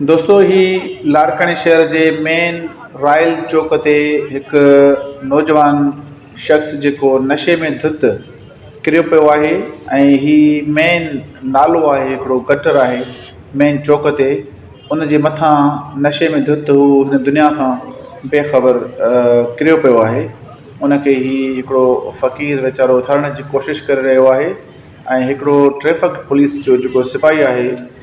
دوستو هي لاڙڪاڻي شهر جي مين رائل چوڪ تي هڪ نوجوان شخص جيڪو نشي ۾ ڌت ڪريو پيو آهي ۽ هي مين نالو آهي هڪڙو گٽر آهي مين چوڪ تي ان جي مٿان نشي ۾ ڌت هو هن دنيا کان بي خبر ڪريو پيو آهي ان کي هي هڪڙو فقير ويچارو اٿارڻ جي ڪوشش ڪري رهيو آهي ۽ هڪڙو ٽريفڪ پوليس جو جيڪو سپاهي آهي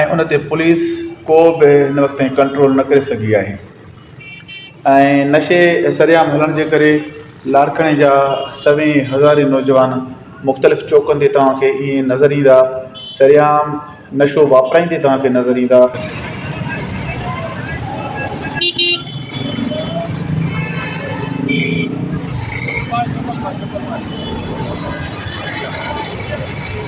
۽ ان تي پوليس ڪو به هن وقت تائين ڪنٽرول نه ڪري سگهي آهي ۽ نشي سرعام هلڻ جي ڪري لاڙڪاڻي جا سوين هزارين نوجوان مختلف چوڪن تي توهان کي ائين نظر ايندا سرعام نشو واپرائيندي توهان کي نظر ايندا.